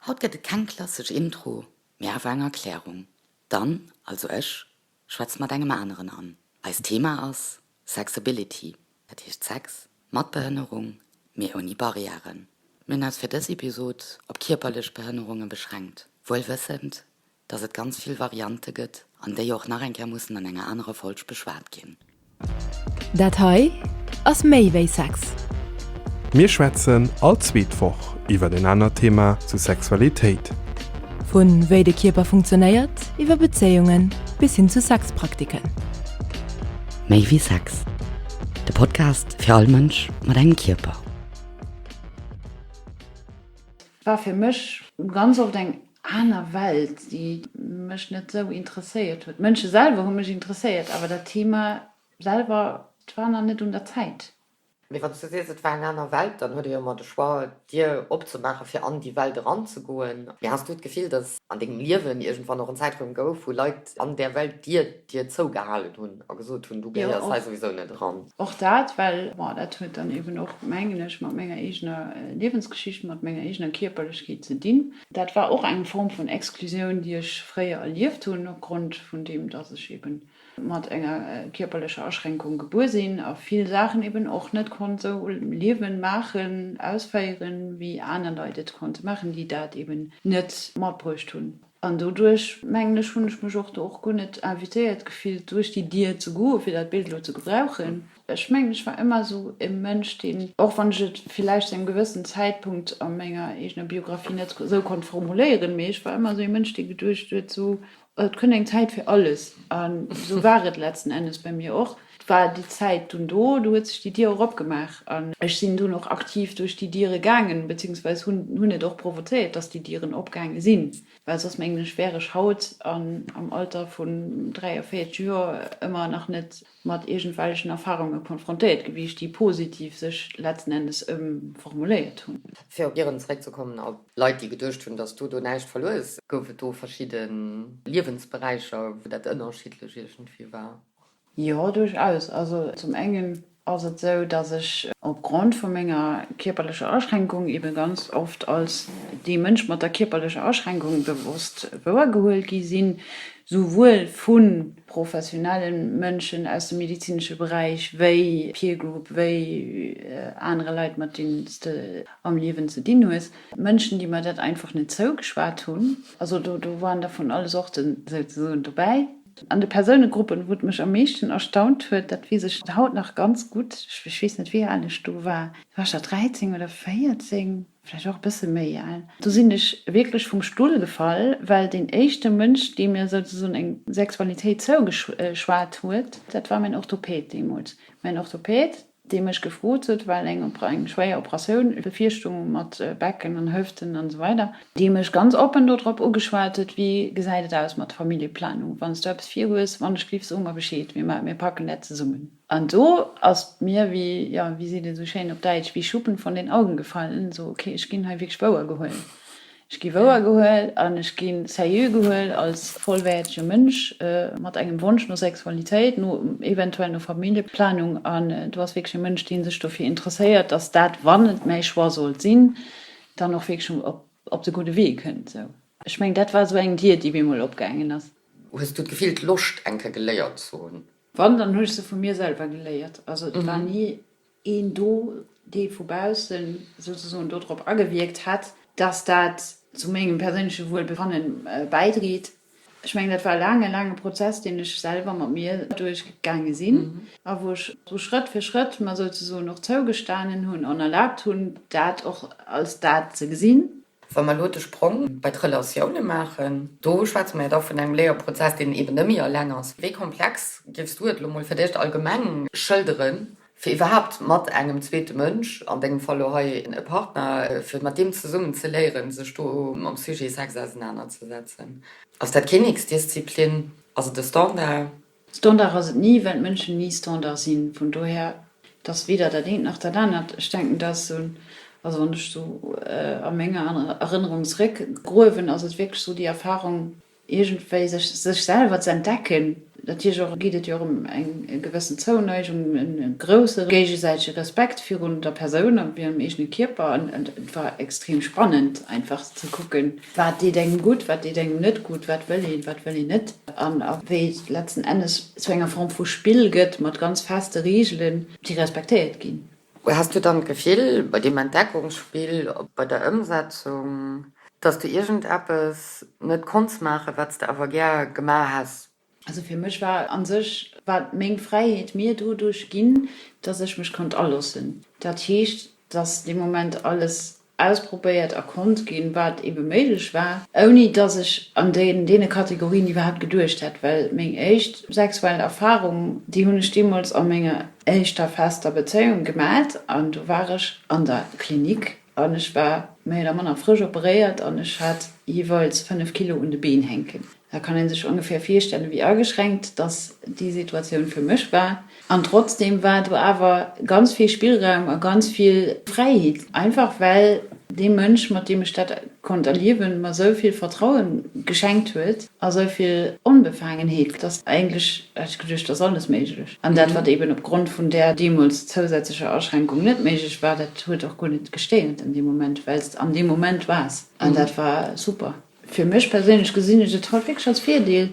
Haut gett et keng klassesch Intro, mee awer eng Erklärung. D'Anne, also ech, schwätzt mat engem aneren an. Eist Thema ass Sexability, dat heescht Sex mat Behënnerung, mee ouni Barriären. Mir hunn eis fir dës Episod op kierperlech Behënnerunge beschränkt, wuel wëssend, dass et ganz vill Variante gëtt an déi och nach eng Kéier mussen an enger anerer Folg beschwat ginn. Dat hei ass méi wéi Sex. Mir schwätzen all zweet Woch iwwer en anert Thema zu Sexualitéit. Vu wéi de Kierper funktionéiert, iwwer Bezéiunge bis hin zu Sexpraktiken. Méi wéi Sex, de Podcast fir all Mënsch mat engem Kierper. war fir mech ganz oft eng aner Welt, déi mech net esou interesséiert huet. D'Mënsche selwer hu mech interesséiert, awer dat Thema selwer, et war nach net un der Zäit. Mee wann s du sees, et war eng aner Welt, dann huet ee jo ëmmer de Choix, d'Dier opzemaachen, fir an déi Welt eranzegoen. Mee has du d'Gefill, datt an dengem Liewen iergendwann och en Zäitraum gouf, wou Leit an där Welt, déi dir Dir zou gehalen hunn a gesot hunn, Du gehéiers hei souwisou net eran. Och dat, well, bon, dat huet dann eben och, mengen ech, mat menger eegener Liewensgeschicht, mat menger eegener Kierperlechkeet ze dinn. Dat war och eng Form vun Exklusioun, déi ech fréier erlieft hunn, opgrond vun deem, dass ech eben mat enger kierperlecher Aschränkung gebuer sinn a vill Saachen eben och net konnt esou liewen, maachen, ausféieren, wéi aner Leit et konnte maachen, déi dat eben net matbruecht hunn. An doduerch, mengen ech, hunn ech mech och do och guer net invitéiert gefillt, duerch déi Dier ze goen, fir dat Bild elo ze gebrauchen. Ech mengen, ech war ëmmer esou e Mënsch, deen, och wann ech et villäicht zu engem gewëssen Zäitpunkt a menger eegener Biographie net esou konnt formuléieren, mee ech war ëmmer esou ee Mënsch, dee geduecht huet, sou, et kënnt eng Zäit fir alles. An esou war et letzten Endes bei mir och. Et war déi Zäit dunn do, do huet sech déi Dier och opgemaach an ech sinn dunn och aktiv duerch déi Diere gaangen, beziehungsweise hunn et och provozéiert, dass déi Dieren opgaange sinn, well soss mengen ech wär ech haut an am Alter vun 43 Joer ëmmer nach net mat iergendwellechen Erfahrunge konfrontéiert gewiescht, déi positiv sech letzten Endes ëmformuléiert hunn. Fir op Ieren zeréckzekommen a Leit, déi geduecht hunn, dass du do näischt verluer hues, gouf et do verschidde Liewensberäicher, wou dat ënnerschiddlech iergendwéi war? Jo, duerchaus. Also zum engen ass et esou, dass ech op Grond vu menger kierperlecher Aschränkung ebe ganz oft als dee Mënsch mat der kierperlecher Aschränkung bewosst wouer gehuel gi sinn, souwuel vu professionelle Mënschen aus dem medizinesche Beräich wéi Peer Group, wéi anere Leit mat deenen s de am Liewen ze dinn hues. Mënschen, déi mer dat einfach net zougeschwat hunn. Also do waren der vun alle Sorten souzesoen dobäi. An de Persounegruppen, wou et mech am meeschten erstaunt huet, dat weess ech haut nach ganz gutt, ech weess net wéi al ech do war, war ech da 13 oder 14, vläicht och e bësse méi al, do sinn ech wierklech vum Stull gefall, well deen éischte Mënsch, dee mir souzesoen eng Sexualitéit zougeschwat huet, dat war mäin Orthopäd deemools. Mäin Orthopäd, dee mech gefrot huet, well eng eng schwéier Operatioun bevirstoung mat Becken an Hëften an esou weider, dee mech ganz oppen dodrop ugeschwat huet, Wéi gesäit et aus mat Familljeplanung? Wann s du eppes virhues, wann ech giff, so mer Bescheed, mir ma mir packen dat zesummen. An do ass et mir wéi, jo, wéi seet ee sou schéin op Däitsch, wie Schuppen von den Augen gefallen, sou, okay, ech ginn hei wierklech wouer gehuel. Ech gi wouer gehuel an ech gi sérieux gehuel als vollwäertege Mënsch mat engem Wonsch no Sexualitéit, no eventuell no Familljeplanung an do ass wierklech e Mënsch, dee sech dofir interesséiert, datt dat, wann et mäi Choix sollt sinn, dann och wierklech op de gudde Wee kënnt. Sou, ech mengen, dat war esou eng Dier, déi bemol opgaangen ass. Hues du d'Gefill, d'Loscht eng Kéier geléiert ze hunn? Wann, dann hu ech se vu mir selwer geléiert. Also et war ni een do, dee vu baussen souzesoen do drop agewierkt hätt, dass dat zu mengem perséinleche Wuelbefanne bäidreet. Ech mengen, dat war e laange, laange Prozess, deen ech selwer mat mir duerchgaange sinn a wou ech sou Schrëtt fir Schrëtt mer souzesoen och zougestanen hunn an erlaabt hunn, dat och als dat ze gesinn, Wa mer elo de Sprong bei d'Relatioune maachen, do schwätze mer jo da vun engem Léierprozess, deen eben net méi eleng ass. Wéi komplex géifs du et elo mol fir d'éischt allgemeng schëlderen, fir iwwerhaapt mat engem zweete Mënsch, an dengem Fall elo hei e Partner, fir mat deem zesummen ze léieren, sech do mam Sujet Sex ausenanerzesetzen? Ass dat keen X-Disziplin? Ass et e Standard? Standard ass et ni, well d'Mënschen ni Standard sinn. Vun dohir, et ass weder dat eent nach dat anert. Ech denken, dat ass esou, also wann ech esou a menger Erënnerung zeréckgruewen, ass et wierklech esou déi Erfahrung, iergendwéi sech selwer ze entdecken. Natierlech och geet et jo och ëm eng gewëssen Zouneigung, e grousse géigesäitege Respekt virun der Persoun a virun dem eegene Kierper. An et war extrem spannend einfach ze kucken, Wat deet engem gutt, wat deet engem net gutt, wat wëll een, wat wëll een net, an a wéi et letzten Ennes zu enger Form vu Spill gëtt, mat ganz feste Reegelen, déi respektéiert ginn. Häss du dann d'Gefill bei deem Entdeckungsspill, bei der Ëmsetzung, dass du iergendeppes net konns maachen, wat s de awer gär gemaach häss? Also fir mech war a sech war meng Fräiheet mir doduerch ginn, datt ech mech konnt aloossen. Dat heescht, datt dee Moment alles ausprobéiert a konnt ginn, wat eebe méiglech war, ouni datt ech an deene Kategorien iwwerhaapt geduecht hätt, well meng éischt sexuell Erfarung, déi hunn ech deemools a menger éischter fester Bezéiung gemat an do war ech an der Klinik. An ech war méi oder manner frësch operéiert an ech hat jeeweils 5 Kilo un de Been hänken. Da kann ee sech ongeféier virstellen, wéi ageschränkt dass déi Situatioun fir mech war. An trotzdeem war do awer ganz vill Spillraum a ganz vill Fräiheet, einfach well dee Mënsch, mat deem ech dat konnt erliewen, mer esou vill Vertraue geschenkt huet a esou vill Onbefaangenheet, dass eigentlech hat ech geduecht, et ass alles méiglech. An dat, wat eeben opgrond vun där deemools zousätzlecher Aschränkung net méiglech war, dat huet och guer net gestéiert an deem Moment, well s de an deem Moment waars. An dat war super. Fir mech perséinlech gesinn ech et haut wierklech als Virdeel,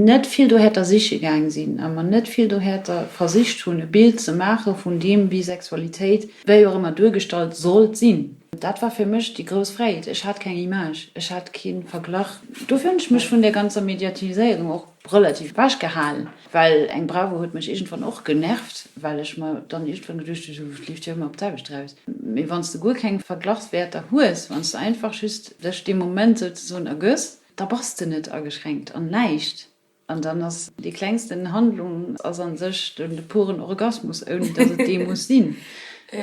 net vill dohäerter siche gaang sinn a mer net vill dohäerter versicht hunn, e Bild ze maache vun deem, wéi Sexualitéit, wéi och ëmmer, duergestallt sollt sinn. Dat war fir mech déi grouss Fräit. Ech hat keng Image, ech hat kee Verglach. Dofir hunn ech mech vun där ganzer Mediatiséierung och relativ basch gehalen, well eng Bravo huet mech iergendwann och genervt, well ech mer dann iergendwann geduecht hu, se leeft jo ëmmer op d'selwecht eraus. Mee wann s de guer keng Verglachswäerter hues, wann s de einfach just dech dee Moment souzesoen ergëss, da bass de net ageschränkt an näischt. An dann ass déi klengsten Handlung ass an sech de puren Orgasmus, ouni datt et dee muss sinn.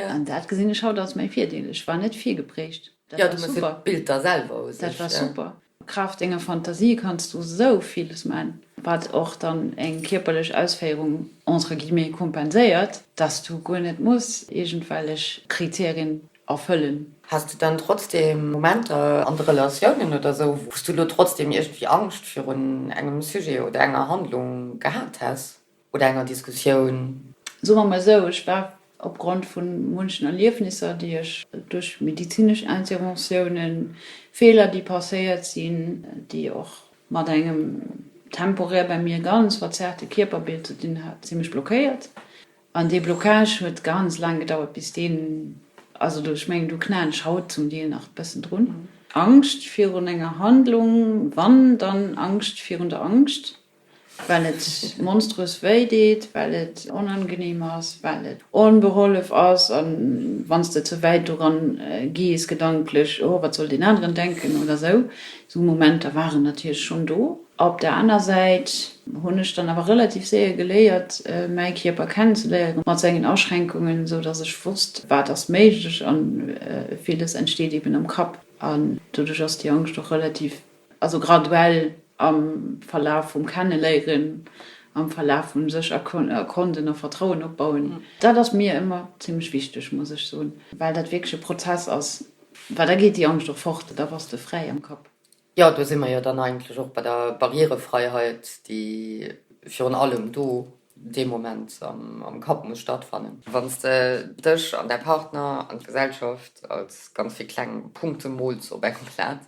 An dat gesinn ech haut als mäi Virdeel. Ech war net virgeprägt. Dat war super. Dat war super. Kraaft denger Fantasie kanns du sou villes man, wat och dann eng kierperlech Ausféierung entre guillemets kompenséiert, dass du guer net muss iergendwellech Kriterien erfëllen. Has de dann trotzdem Momenter an de Relatiounen oder sou, wou s du lo trotzdem iergendwéi Angscht virun engem Sujet oder enger Handlung gehat häss? Oder enger Diskussioun. Soe mer mol esou, ech war opgrond vu munchen Erliefnisser, déi ech duerch medizinesch Interventiounen, Feeler, déi passéiert sinn, déi och mat engem temporär bäi mir ganz verzerrte Kierperbild ze dinn hat, zimlech blockéiert. An dee Blocage huet ganz laang gedauert, bis deen, also do, ech mengen, do knaen ech haut zum Deel nach e bëssen drun. Angscht virun enger Handlung, wann, dann Angscht virun der Angscht. well et monströs wéi deet, well et onangenehm ass, well et onbehollef ass a wann s de ze wäit doran gees gedanklech, oh wat soll deen aneren denken oder esou, esou Momenter waren natierlech schonn do. Op der aner Säit hunn ech dann awer relativ séier geléiert mäi Kierper kennenzeléieren mat sengen Aschränkungen, esou dass ech wosst wat ass méiglech a villes entsteet eben am Kapp an doduerch ass déi Angscht och relativ Also graduell am Verlaf vum Kenneléieren, am Verlaf vum sech erkonden a Vertrauen opbauen. Dat ass mir ëmmer zimlech wichteg, muss ech soen, well dat wierklech e Prozess ass, well da geet déi Angscht och fort, da bass de fräi am Kapp. Jo, do si mer jo dann eigentlech och bei der Barrierefreiheit, déi virun allem do dee Moment am Kapp muss stattfannen. Wann s de dech an däi Partner an d'Gesellschaft als ganz vill kleng Punkte mools op engem Blat,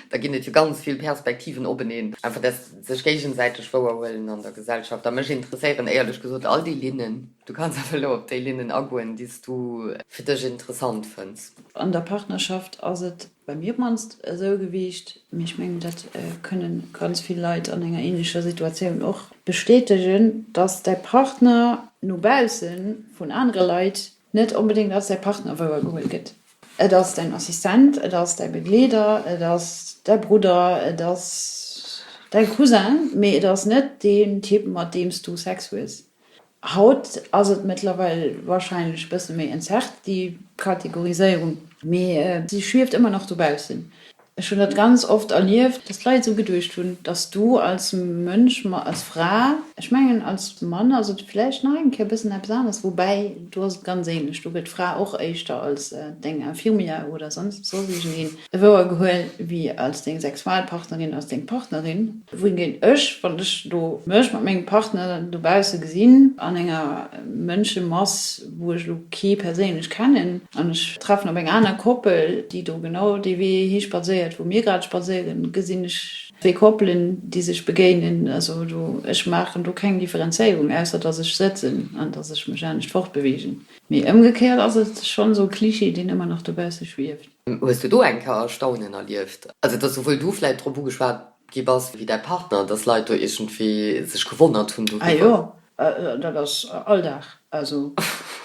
da ginn et jo ganz vill Perspektiven openeen. Einfach dat sech géigesäiteg wouerhuelen an der Gesellschaft. A mech interesséieren éierlech gesot all déi Linnen. Du kanns awer elo op déi Linnen agoen, déi s du fir dech interessant fënns. An der Partnerschaft ass et Bei mir op d'mannst esou gewiicht, mee ech mengen dat kënnen ganz vill Leit an enger ähnlecher Situatioun och bestätegen, dass däi Partner no bausse vun anere Leit net onbedéngt als däi Partner wouer geholl gëtt. Et ass däin Assistent, et ass däi Begleeder, et ass däi Brudder, et ass däi Cousin, mee et ass net deen Typ mat deem s du Sex hues. Haut ass et mëttlerweil wahrscheinlech bësse méi entzerrt, déi Kategoriséierung. Mee si schwieft ëmmer nach dobaussen. Ech hunn dat ganz oft erlieft, dass d'Leit esou geduecht hunn, dass du als Mënsch, als Fra, ech mengen als Mann ass et vläicht nach eng Kéier bëssen eppes anescht, woubäi do ass et ganz änlech, do gëtt d'Fra och éischter als deng Infirmière oder soss iergendeen Wouer gehuel wi als deng Sexualpartnerin, als deng Partnerin. Wou géing ech, wann ech do mech mat mengem Partner dobausse gesinn, an enger Mënschemass, wou ech lo kee perséinlech kennen, an ech treffen op eng aner Koppel, déi do genau dee Wee hispadséiert, wou mir grad spadséieren, gesinn ech zwee Koppelen, déi sech begéinen. Also do, ech maachen do keng Differenzéierung, ausser dass ech sëtzen an dass ech mech anescht fortbewegen. Mee ëmgekéiert ass et schonn esou e Cliché, deen ëmmer nach dobausse schwieft. Hues du do eng Kéier Erstaunen erlieft, also dass souwuel du vläit drop ugeschwat gi bass wéi däi Partner, dass Leit do iergendwéi sech gewonnert hunn doriwwer? Ah jo, dat ass Alldag, also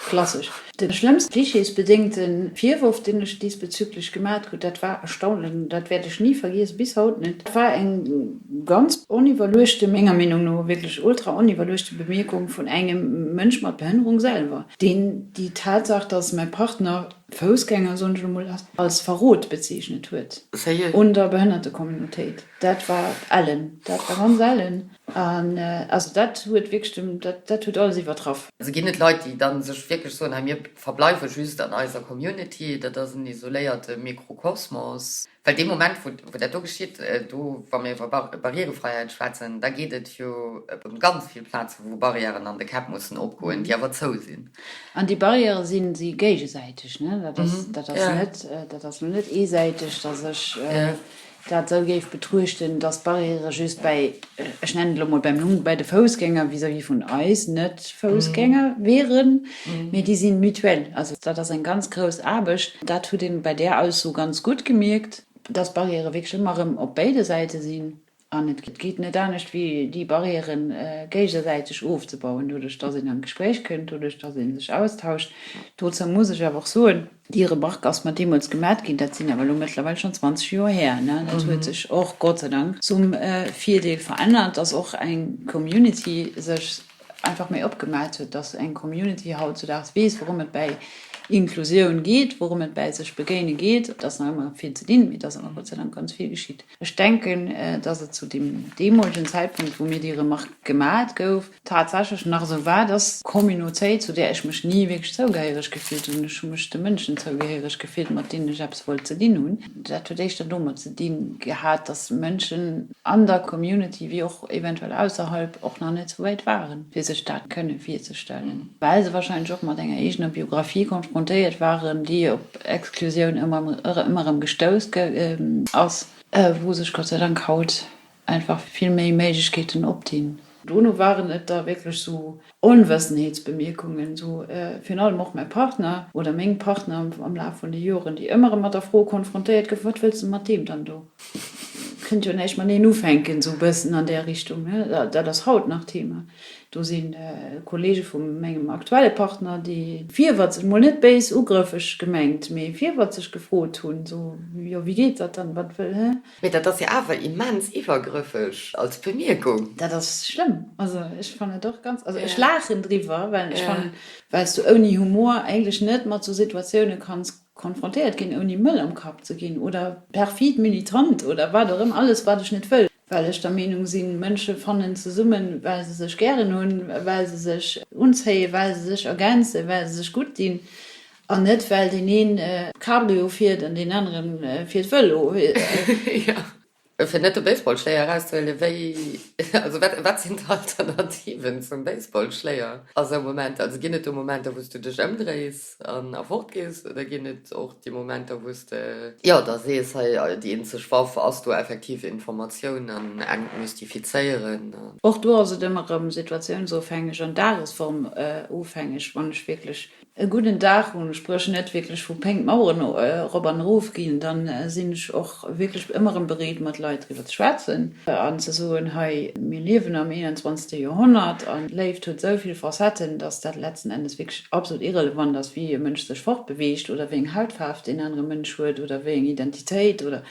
klassesch. De schlëmmste klischeesbedéngte Virworf, deen ech diesbezüglech gemaach krut, dat war Erstaunen, dat wäert ech ni vergiessen, bis haut net. Dat war eng ganz oniwwerluechte, menger Meenung no wierklech ultra oniwwerluechte Bemierkung vun engem Mënsch mat Behënnerung selwer, deen déi Tatsaach, dass mäi Partner Foussgänger, soen ech lo mol, als Verrot bezeechnet huet un der Behënnertecommunautéit. Dat war ellen, dat war ganz ellen. An also dat huet wierklech dem, dat huet alles iwwertraff. Also ginn et Leit, déi da sech wierklech soen, hei mir verbleiwe just an eiser Community, dat ass en isoléierte Mikrokosmos. Well dee Moment, wou dat do geschitt, do, wa mir iwwer Barrierefreiheit schwätzen, da geet et jo ëm ganz vill Plazen, wou Barrièren an de Käpp mussen opgoen, déi awer zou sinn. An déi Barrièrë si géigesäiteg. Dat ass, dat ass net, dat ass elo net eesäiteg, dass ech dat esou géif betruuchten, dass d'Barrièrë just bäi, ech nennen et elo mol beim Numm, bäi de Foussgänger vis-à-vis vun eis Net-Foussgänger wieren. Mee déi sinn mutuel. Also dat ass eng ganz grouss Aarbecht. Dat hutt ee bei där Ausso ganz gutt gemierkt, dass Barrièrë wierklech ëmmer erëm op béide Säite sinn. An et geet net anescht, wéi déi Barrièrë géigesäiteg ofzebauen, doduerch dass een an d'Gespréich kënnt, doduerch dass ee sech austauscht. Dozou muss ech awer och soen, Déi Remarque ass mer deemools gemat ginn, dat sinn awer elo mëttlerweil schonn 20 Joer här. Dat huet sech och Gott sei Dank zum Virdeel verännert, dass och eng Community sech einfach méi opgemaat huet, dass eng Community hautzudaags weess, wourëm et bäi Inklusioun geet, wourëm et bäi sech begéine geet. Et ass nach ëmmer vill ze dinn, mee et ass awer Gott sei Dank ganz vill geschitt. Ech denken, dass et zu deem deemolegen Zäitpunkt, wou mir déi Remark gemat gouf, tatsächlech nach esou war, dass d'Communautéit, zu där ech mech ni wierklech zougehéiereg gefillt hunn, ech hu mech de Mënschen zougehéiereg gefillt, mat deenen ech eppes wollt ze dinn hunn, dat huet éischter domat ze di gehat, dass Mënschen an der Community, wéi och eventuell ausserhalb, och nach net esou wäit waren, fir sech dat kënne virzestellen. well se wahrscheinlech och mat enger eegener Biographie konfrontéiert waren, déi op Exklusioun ëmmer erëm gestouss ass, wou sech Gott sei Dank haut einfach vill méi Méiglechkeeten opdinn. Dono waren et da wierklech esou Onwëssenheetsbemierkungen, esou virun allem och mäi Partner oder meng Partner am Laf vun de Joren, déi ëmmer erëm mat der Fro konfrontéiert goufen, Wat wëlls de mat deem dann do? Kënnt jo näischt mateneen ufänken, esou e bëssen an där Richtung, ne? Dat ass haut nach Thema. Do si Kollege vu mengem aktuelle Partner, déi virwëtzeg, mol net béis ugrëffeg gemengt, mee virwëtzeg gefrot hunn, esou, Jo, wéi geet dat dann, wat wëll, hä? Mee dat ass jo awer immens iwwergrëffeg als Bemierkung. Dat ass schlëmm. Also ech fannen et och ganz, also ech laachen driwwer, well ech fannen, well s du ouni Humor eigentlech net mat esou Situatioune kanns Konfrontéiert ginn ouni Mëll am Kapp ze ginn oder perfid militant oder wat och ëmmer, alles wat ech net wëll, well ech der Meenung sinn, Mënsche fannen zesummen, well se sech gären hunn, well se sech unzéien, well se sech ergänzen, well se sech gutt dinn an net well deen een d'Cabrio fiert an deen anere fiert Vëlo. Fir net de Baseballschléier erauszehuelen, wéi, also wat, wat sinn d'Alternativen zum Baseballschléier a sou Momenter? Also ginn et do Momenter, wou s du dech ëmdréis an a fort gees oder ginn et och déi Momenter, wou s de, jo, da sees, hei, déi eenzeg Waff ass do effektiv Informatioun an entmystifizéieren a. Och do ass et ëmmer erëm situatiounsofhängeg an dagesformofhängeg, wann ech wierklech E gudden Daach hunn, ech breuch net wierklech vu Péng d'Maueren erop an erof ginn, da sinn ech och wierklech ëmmer erëm bereet mat Leit driwwer ze schwätzen an ze soen, hei, mir liewen am 21. Joerhonnert an d'Léift huet esou vill Facetten, datt dat letzten Endes wierklech absolut irrelevant ass, wéi e Mënsch sech fortbeweegt oder wéi eng Hautfaarf deen anere Mënsch huet oder wéi eng Identitéit oder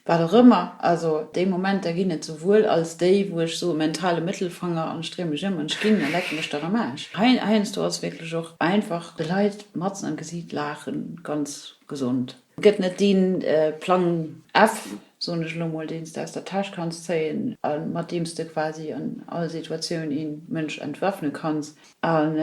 Wat och ëmmer, also déi Momenter ginn et, souwuel als déi, wou ech soe mentale Mëttelfanger an Stree mech ëm an ech ginn a lecke mech dann am Aarsch. Heiansdo ass wierklech och einfach de Leit matzen am Gesiit laachen ganz gesond. Et gëtt net dee Plang F, soen ech elo mol, deen s de aus der Täsch kanns zéien a mat deem s de quasi an all Situatioun ee Mënsch entwaffne kanns. An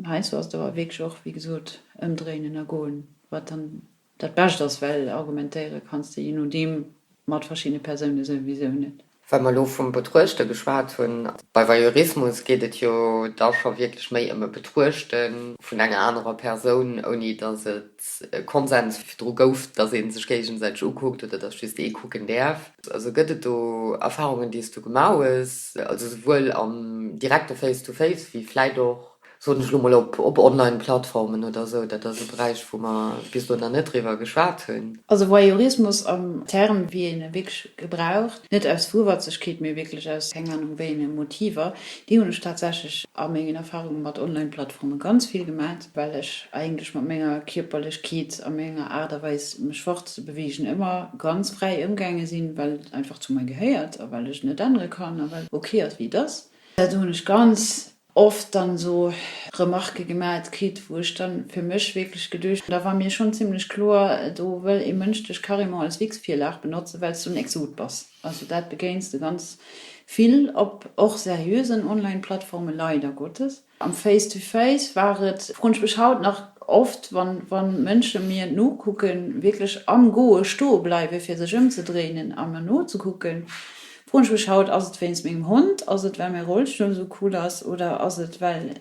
heiansdo ass et awer wierklech och, wéi gesot, ëmdréinen a goen, wat dann. Dat Bescht ass, well argumentéiere kanns de je nodeem mat verschiddene Persoune souwisou net. Wa mer elo vum Betruechte geschwat hunn, bei Voyeurismus geet et jo da scho wierklech méi ëm e Betruechte vun enger anerer Persoun, ouni datt et e Konsens virdru gouf, datt ee sech géigesäiteg ukuckt oder datt just ee kucken däerf. Also gëtt et do Erfarungen, déi s du gemaach hues, also souwuel am direkte Face-to-face wéi vläit och soen ech lo mol, op Online-Plattformen oder esou, dat ass e Beräich, wou mer bis elo nach net driwwer geschwat hunn. Also Voyeurismus am Term, wéi een e wierklech gebraucht, net aus Wuiwerzegkeet, mee wierklech aus keng Anung wéi enge Motiver, déi hunn ech tatsächlech a mengen Erfarunge mat Online-Plattforme ganz vill gemat, well ech eigentlech mat menger Kierperlechkeet a menger Aart a Weis, mech fort ze beweegen, ëmmer ganz fräi ëmgaange sinn, well et einfach zu mer gehéiert a well ech et net ännere kann a well et ok ass, wéi et ass. Dat hunn ech ganz oft dann esou Remarque gemat kritt, wou ech dann fir mech wierklech geduecht hunn, da war mir schonn zimlech kloer, do wëll ee Mënsch dech carrément als Witzvirlag benotzen, well s du en Exot bass. Also dat begéins de ganz vill op och seriösen Online-Plattformen, leider Gottes. Am Face to Face war et, froen ech mech haut nach oft, wann Mënsche mir nokucken, wierklech am Goe stoe bleiwe fir sech ëmzedréinen a mer nozekucken, Froen ech mech haut, ass et wéinst mengem Hond, ass et well mäi Rollstull esou cool ass oder ass et well,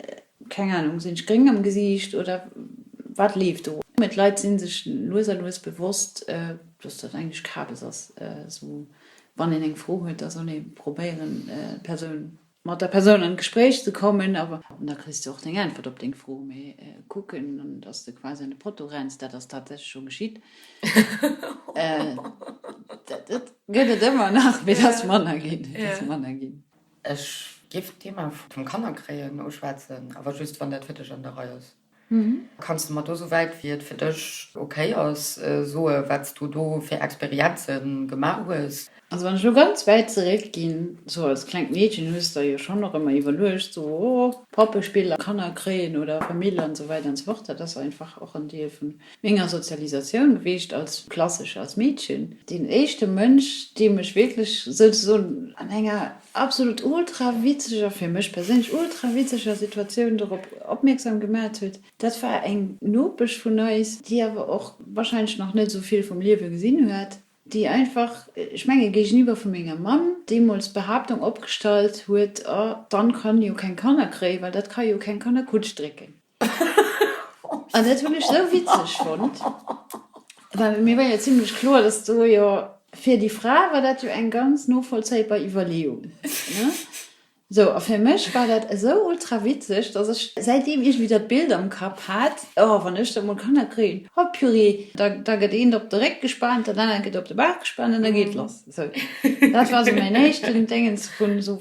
keng Ahnung, sinn ech gréng am Gesiicht oder wat leeft do? Mee d'Leit si sech lues a lues bewosst, dass dat eigentlech Kabes ass, esou wann een eng Fro huet, da soll ee probéieren d'Persoun mat der Persoun an d'Gespréich ze kommen, a an da kriss de och deng Äntwert op deng Fro, mee kucken, datt s de quasi an de Potto renns, dat ass tatsächlech scho geschitt, dat gëtt et ëmmer nach, mee et ass manner ginn, et ass manner ginn. Ech géif d'Thema vum Kannerkréien uschwätzen, awer just, wann dat fir dech an der Rei ass. Kanns de mer do, souwäit wéi et fir dech ok ass, soe wat s du do fir Experienze gemaach hues? Also wann ech elo ganz wäit zeréck ginn, sou als klengt Meedchen hues de der jo schonn och ëmmer iwwerluecht, sou o Pappespill a Kanner kréien oder Famill an esou weider an esou fort. Dat ass einfach och en Deel vun menger Sozialisatioun gewiescht als klassesche, als Meedchen. Deen éischte Mënsch, deem ech wierklech souzesoen an enger absolut ultra witzeger, fir mech perséinlech ultra witzeger Situatioun dorop opmierksam gemat huet. Dat war eng Nopesch vun eis, déi awer och wahrscheinlech nach net esou vill vum Liewe gesinn huet, déi einfach, ech menge géigeniwwer vu menger Mamm, deemools d'Behaaptung opgestallt huet, oh, dann kann jo keng Kanner kréien, well dat kann jo keng Kannerkutsch drécken. An dat hunn ech esou witzeg fonnt, well mir war jo zimlech kloer, dass do jo, fir déi Fra war dat jo eng ganz novollzéibar Iwwerleeung, ne? Sou, a fir mech war dat esou ultra witzeg, dass ech säitdeem iergendwéi dat Bild am Kapp hat, Oh, wann ech da mol Kanner kréien, oh purée, da gëtt eent op de Réck gespaant, dat anert gëtt op de Bauch gespaant an da geet lass. Sou, dat war sou mäin éischten Déngens vu sou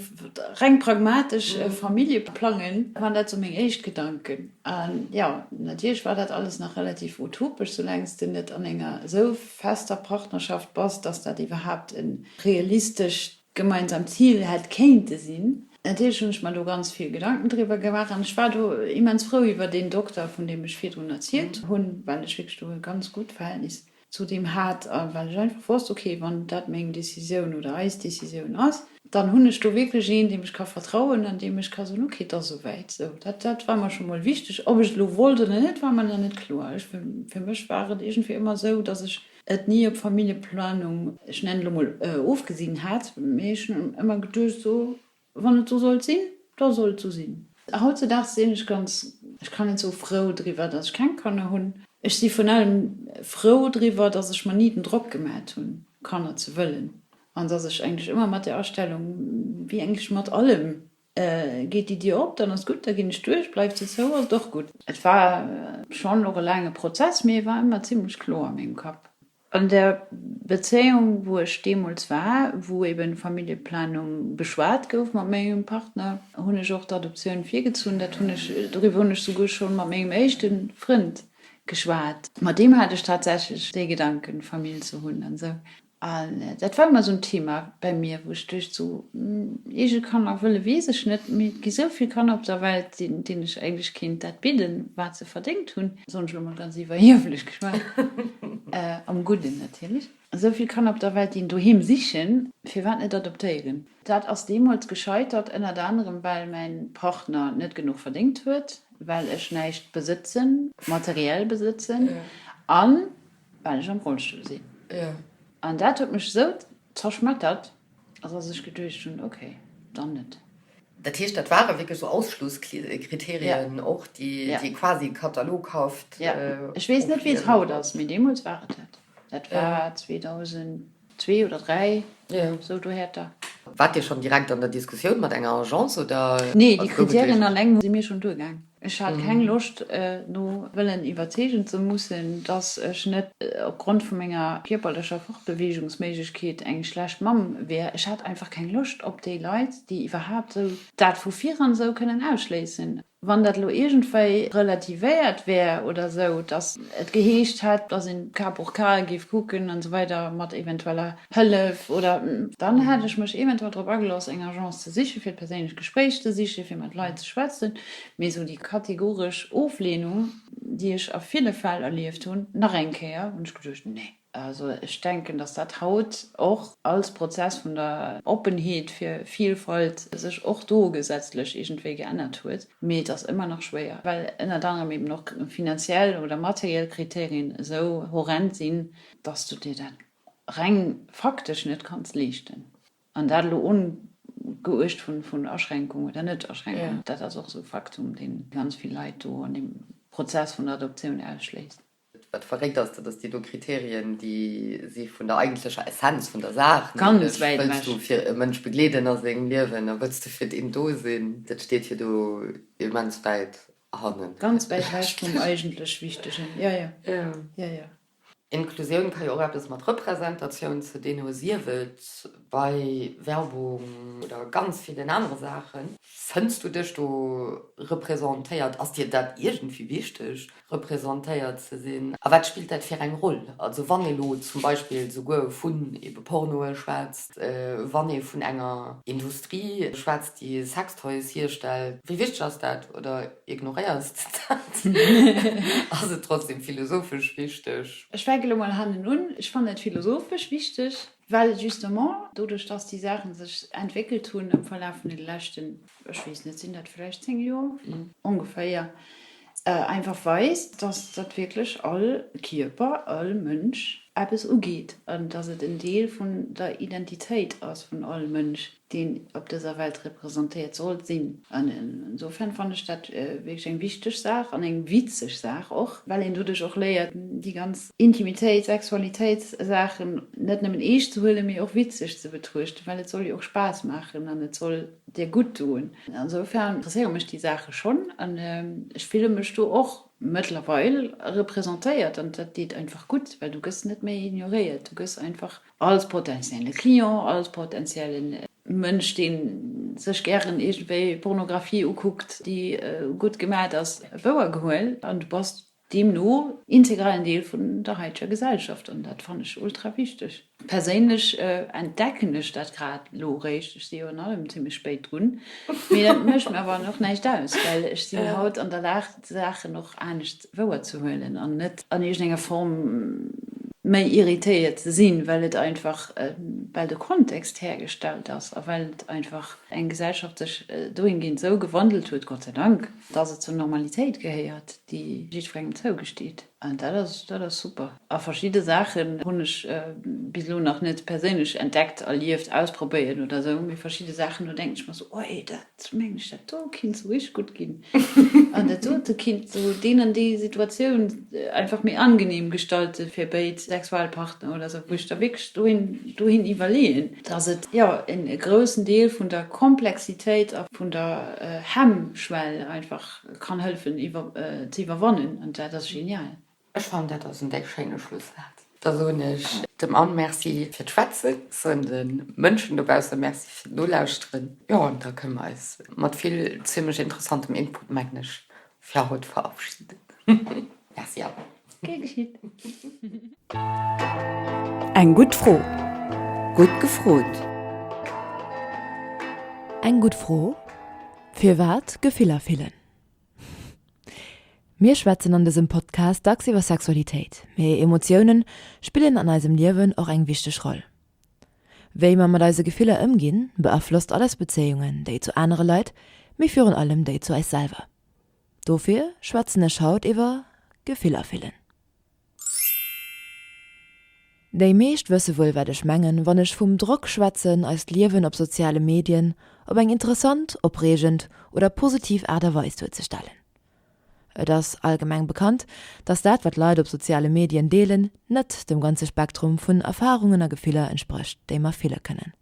reng pragmatesch Famillje plangen, waren dat sou meng éischt Gedanken. A jo, natierlech war dat alles nach relativ utopesch, soulaang s de net an enger esou fester Partnerschaft bass, datt dat iwwerhaapt e realistescht gemeinsamt Zil hätt kéinte sinn. Natierlech hunn ech mer do ganz vill Gedanken driwwer gemaach an ech war do immens frou iwwer deen Dokter, vun deem ech virdrun erzielt hunn, well ech wierklech do e ganz gutt Verhältnis. Zudeem hat, well ech einfach wosst, ok, wann dat meng Décisioun oder eis Décisioun ass, dann hunn ech do wierklech een, deem ech ka vertrauen an deem ech ka soen, ok, et ass esouwäit. Sou, dat, dat war mer scho mol wichteg. Ob ech et elo wollt oder net, war mer nach net kloer. Ech, fir mech war et iergendwéi ëmmer esou, dass ech et ni op Familljeplanung, ech nennen elo mol, ofgesinn hat, mee ech hunn ëmmer geduecht, sou, Wann et sou sollt sinn, da soll et sou sinn. Hautzedaags sinn ech ganz, ech kann net soe frou driwwer, datt ech keng Kanner hunn. Ech si virun allem frou driwwer, datt ech mer ni den Drock gemat hunn, Kanner ze wëllen, an datt ech eigentlech ëmmer mat der Astellung, wéi eigentlech mat allem, Geet déi Dier op, dann ass gutt, da ginn ech duerch, bleift se zou, ass et och gutt. Et war schonn och e laange Prozess, mee e war ëmmer zimmlech kloer a mengem Kapp. An der Bezéiung, wou ech deemools war, wou eben Familljeplanung beschwat gouf mat mengem Partner, hunn ech och d'Adoptioun virgezunn. Dat hunn ech, doriwwer hunn ech souguer schonn mat mengem éischte Frënd geschwat. Mat deem hat ech tatsächlech de Gedanken, Famill ze hunn an esou. An dat war ëmmer esou en Thema bäi mir, wou ech duecht, sou eege Kanner wëlle weess ech net, mee et gi sou vill Kanner op der Welt, deenen ech eigentlech kéint dat bidden, wat se verdéngt hunn. Soen ech lo mol ganz iwwerhieflech geschwat. Am Gudden natierlech. Esou vill Kanner op der Welt, déi en Doheem sichen, firwat net adoptéieren? Dat ass deemools gescheitert, ënnert anerem well mäin Partner net genuch verdéngt huet, well ech näischt besëtzen, materiell besëtzen, an well ech am Rollstull sinn. An dat huet mech esou Zerschmettert ass a sech geduecht hunn, ok, dann net. Dat heescht, dat ware wierklech esou Ausschlusskriterien och, déi quasi e Katalog haft opleeën. Ech weess net, wéi et haut ass, mee deemools war et dat. Dat war 2002 oder 3, esou dohäerter. Waart Dir schonn direkt an der Diskussioun mat enger Agence, oder? Nee, déi Kriterien alleng si mir schonn duergaang. Ech hat keng Loscht, no wëllen iwwerzeegen ze mussen, dass ech net opgrond vu menger kierperlecher Fortbeweegungsméiglechkeet eng schlecht Mamm wier. Ech hat einfach keng Loscht op déi Leit, déi iwwerhaapt esou dat vu viran esou kënnen ausschléissen. Wann dat elo iergendwéi relativéiert wär oder esou, dass et geheescht hätt, dass een Cas pour cas géif kucken an esou weider mat eventueller Hëllef, oder dann hätt ech mech eventuell drop agelooss, eng Agence ze sichen, fir d'perséinlecht Gespréich ze sichen, fir mat Leit ze schwätzen, mee esou déi kategoresch Ofleenung, déi ech a ville Fäll erlieft hunn, nach eng Kéier, hunn ech geduecht, nee. Also ech denken, dass dat haut och als Prozess vun der Oppenheet fir Vielfalt sech och do gesetzlech iergendwéi geännert huet, mee et ass ëmmer nach schwéier, well ënnert anerem eben och finanziell oder materiell Kriterien esou horrend sinn, dass du dir dat reng faktesch net kanns leeschten, an dat elo ongeuecht vun Aschränkung oder Net-Aschränkung, dat ass och esou e Faktum, dee ganz vill Leit do an deem Prozess vun der Adoptioun ausschléisst. Wat verréckt ass, dat ass, déi do Kriterien, déi si vun der eigentlecher Essenz vun der Saach, nämlech wëlls du fir e Mënsch begleeden a sengem Liewen a wëlls du fir deen do sinn, dat steet jo do immens wäit hannen. Ganz wäit ewech vum eigentlech Wichtegen, jo, jo. Inklusioun ka jo och eppes mat Representatioun ze dinn hu, sief et bei Werbung oder ganz villen anere Saachen. Fënns du dech do representéiert? Ass dir dat iergendwéi wichteg, representéiert ze sinn? A wat spillt dat fir eng Roll? Also wann ee lo zum Beispill souguer vun ebe Pornoe schwätzt, wann ee vun enger Industrie schwätzt, déi Sextoys hierstellt, wéi wichteg ass dat? Oder Ignoréiers de dat? Ass et trotzdem philosophesch wichteg? Ech fänke lo mol hannen un, Ech fannen et philosophesch wichteg, well et justement doduerch, dass déi Saache sech entwéckelt hunn am Verlaf vun den leschten, ech weess net, sinn dat vläicht zéng Joer ongeféier, einfach weist, dass dat wierklech all Kierper, all Mënsch eppes ugeet an dass et en Deel vun der Identitéit ass vun all Mënsch. deen op dëser Welt representéiert soll sinn. An insofern fannen ech dat wierklech eng wichteg Saach an eng witzeg Saach och, well een doduerch och léiert, déi ganz Intimitéit, Sexualitéitssaachen net nëmmen eescht ze huelen, mee och witzeg ze betruechten, well et soll jo och Spaass maachen an et soll dir gutt doen. Insofern interesséiere mech déi Saache schonn an ech fille mech do och mëttlerweil representéiert. An dat deet einfach gutt, well du gëss net méi ignoréiert, du gëss einfach Als potentielle Client, als potentielle Mënsch, dee sech gären iergendwéi Pornographie ukuckt, déi gutt gemaacht ass, wouer gehuel, an du bass deemno integralen Deel vun der haiteger Gesellschaft. An dat fannen ech ultra wichteg. Perséinlech entdecken ech dat grad elo eréischt, ech si jo an allem zimmlech spéit drun, mee dat mécht mir awer och näischt aus, well ech sinn haut an der Lag d'Saachen och anescht wouer ze huelen an net an iergendenger Form méi irritéiert ze sinn, well et einfach, well de Kontext hergestellt ass a well einfach eng Gesellschaft sech dohingeent esou gewandelt huet, Gott sei Dank, dass et zur Normalitéit gehéiert, déi jiddwerengem zougesteet. An dat ass, dat ass super. A verschidde Saachen hunn ech bis elo nach net perséinlech entdeckt, erlieft, ausprobéiert oder esou, mee verschidde Saachen, do denken ech mer esou, Oi, dat, Ech mengen ech dat do kinnt sou richteg gutt ginn an dat dote kinnt sou deen an déi Situatioun einfach méi angenehm gestalten fir béid Sexualpartner oder sou, wou ech da wierklech dohin dohin iwwerleeën, dass et jo en e groussen Deel vun der Komplexitéit a vun der Hemmschwell einfach kann hëllefen iwwer ze iwwerwannen an dat ass genial. Ech fannen dat ass en déck schéine Schlusssaatz. Da soen ech dem Anne Merci fir d'Schwätzen, soen de Mënschen dobausse Merci fir d'Nolauschteren, jo an da kënne mer eis mat vill zimlech interessantem Input mengen ech fir haut verabschieden. Merci alleguer. Gär geschitt. Eng gutt Fro, gutt gefrot. Eng gutt Fro, firwat Gefiller fillen? Mir schwätzen an dësem Podcast dacks iwwer Sexualitéit, mee Emotioune spillen an eisem Liewen och eng wichteg Roll. Wéi mer mat eise Gefiller ëmginn, beaflosst alles Bezéiungen, déi zu anere Leit, mee virun allem déi zu eis selwer. Dofir schwätzen ech haut iwwer Gefiller fillen. Déi meescht wësse wuel wat ech mengen wann ech vum Drock schwätzen eist Liewen op soziale Medien op eng interessant, opreegend oder positiv Aart a Weis duerzestellen. Et ass allgemeng bekannt, datt dat wat Leit op soziale Medien deelen net dem ganze Spektrum vun Erfarungen a Gefiller entsprécht déi mer fille kënnen.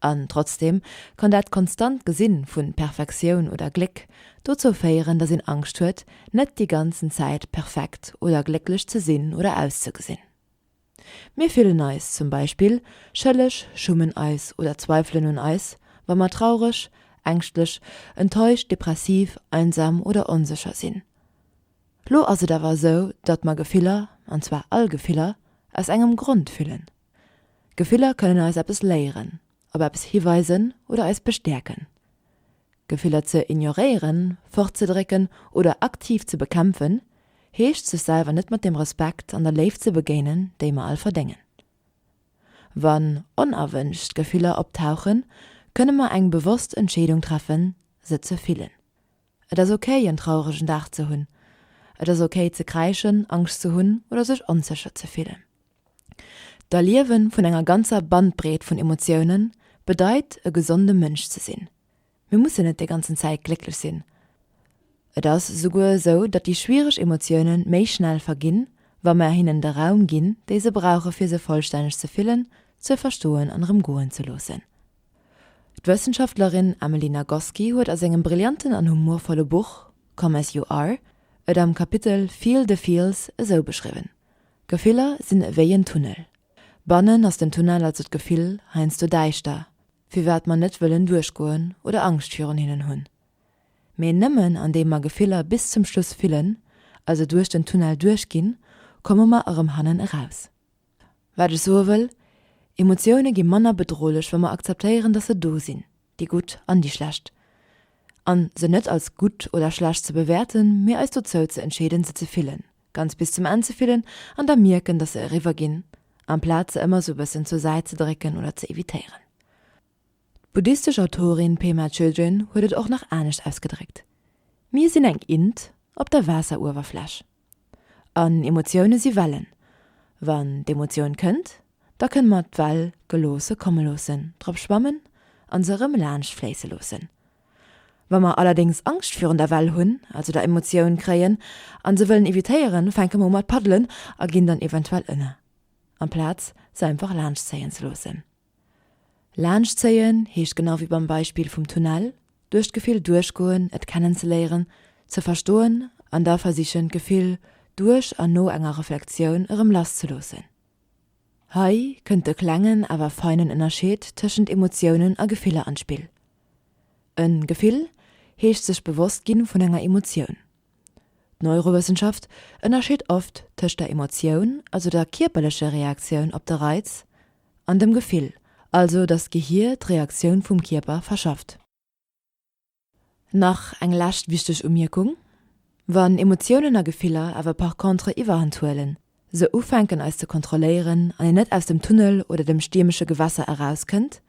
An trotzdem kann dat konstant Gesin vun Perfektioun oder Gléck dozou féieren, dass een Angscht huet, net déi ganzen Zäit perfekt oder glécklech ze sin oder auszegesin. Mir fillen eis zum Beispill schëlleg, schummen eis oder zweifelen un eis, wa mer traureg, ängschtlech, enttäuscht, depressiv, einsam oder onsécher sin. Lo ass et awer esou, datt mer Gefiller, an zwar all Gefiller, aus engem Grond fillen. Gefiller kënnen eis eppes léieren, op eppes hiweisen oder eis bestäerken. Gefiller ze ignoréieren, fortzedrécken oder aktiv ze bekämpfen, heescht sech selwer net mat dem Respekt an der Léift ze begéinen, déi mer all verdéngen. Wann onerwënscht Gefiller optauchen, kënne mer eng bewosst Entscheedung treffen, se ze fillen. Et ass okay en trauregen Dag ze hunn. Et ass okay ze kräischen, Angscht ze hunn oder sech onsécher ze fillen. D'Erliewe vun enger ganzer Bandbreet vun Emotioune bedeit e gesonde Mënsch ze sinn. Mir mussen net déi ganzen Zäit glécklech sinn. Et ass esouguer esou, datt déi schwiereg Emotioune méi schnell verginn, wa mer hinnen de Raum ginn, dee se brauche fir se vollstänneg ze fillen, ze verstoen an erëm goen ze loossen. D'Wëssenschaftlerin Emily Nagoski huet a sengem brillanten an humorvolle Buch Come as you are et am Kapitel Feel the Feels esou beschriwwen, Gefiller sinn ewéi en Tunnel. Bannen ass den Tunnel, also d'Gefill, heiansdo däischter, firwat mer net wëllen duerchgoen oder Angscht virun hinnen hunn. Mee nëmmen andeem mer Gefiller bis zum Schluss fillen, also duerch den Tunnel duerchginn, komme mer erëm hannen eraus. Wat ech soe wëll, Emotioune gi manner bedrohlech, wa mer akzeptéieren, datt se do sinn, déi gutt an déi schlecht, a se net als gutt oder schlecht ze bewäerten, mee eis dozou ze entscheeden, se ze fillen, ganz bis zum Enn ze fillen an da mierken, datt se eriwwer ginn, amplaz se ëmmer esou e bëssen zur Säit ze drécken oder ze evitéieren. D'buddhistesch Autorin Pema Chödrön huet et och nach anescht ausgedréckt, Mir sinn eng Int op der Waasseruewerfläch. An Emotioune si Wellen. Wann d'Emotioun kënnt, da kënne mer d'Well geloosse komme loossen, drop schwammen a se erëm laanscht fléisse loossen. Wa mer allerdéngs Angscht virun der Well hunn, also der Emotioun, kréien a se wëllen evitéieren, fänke mer u mat paddelen a ginn dann eventuell ënner, amplaz se einfach laanschtzéien ze loossen. Laanscht zéien heescht, genau ewéi beim Beispill vum Tunnel, duerch d'Gefill duerchgoen, et kennenzeléieren, ze verstoen an da versichen d'Gefill duerch an no enger Reflektioun erëm lasszeloossen. Hei kënnt de klengen awer feinen Ënnerscheed tëschent Emotiounen a Gefiller an d'Spill. En Gefill heescht sech bewosst ginn vun enger Emotioun. D'Neurowëssenschaft ënnerscheet oft tëscht der Emotioun, also der kierperlecher Reaktioun op de Reiz, an dem Gefill, also datt d'Gehir d'Reaktioun vum Kierper verschafft. Nach eng lescht wichteg Umierkung, Wann Emotiounen a Gefiller awer par contre Iwwerhand huelen, se ufänken eis ze kontrolléieren an een net aus dem Tunnel oder dem stiermesche Gewässer erauskënnt,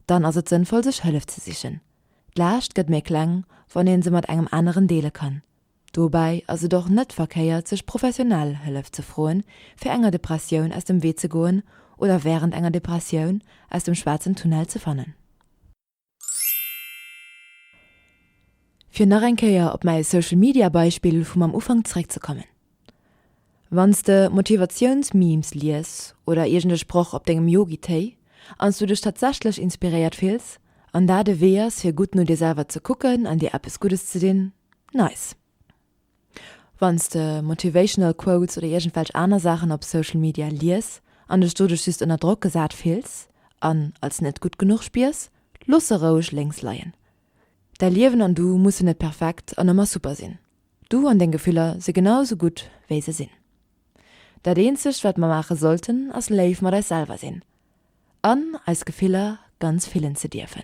dann ass et sënnvoll sech Hëllef ze sichen. D'Laascht gëtt méi kleng wann een se mat engem aneren deele kann. Dobäi ass et och net verkéiert sech professionell Hëllef ze froen fir enger Depressioun aus dem Wee ze goen oder wärend enger Depressioun aus dem schwaarzen Tunnel ze fannen. Fir nach eng Kéier op mäi Social Media Beispill vum am Ufank zréck ze kommen. Wann s de Motivatiouns Memes lies oder iergend e Sproch op dengem Yogi Téi an s du dech tatsächlech inspiréiert fills an dat e Wee ass fir gutt no dir selwer ze kucken an dir eppes Guddes ze dinn, nice. Wann s de motivational quotes oder iergendwelch aner Saachen op Social Media lies an dech doduerch just ënner Drock gesat fills an als net gutt genuch spiers, looss se roueg lénks leien. Däi Liewen an du mussen net perfekt an ëmmer super sinn. Du an deng Gefiller si genau esou gutt, wéi se sinn. Dat eenzegt, wat mer maache sollten, ass léif mat eis selwer sinn an eis Gefiller ganz fillen ze dierfen.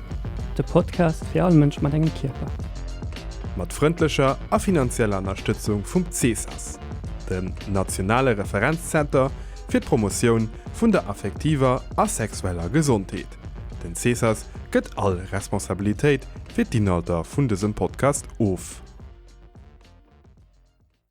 De Podcast fir all Mënsch mat engem Kierper. Mat frëndlecher a finanzieller Ënnerstëtzung vum CESAS, dem nationale Referenzzenter fir d'Promotioun vun der affektiver a sexueller Gesondheet. Den CESAS gëtt all Responsabilitéit fir d'Inhalter vun dësem Podcast of.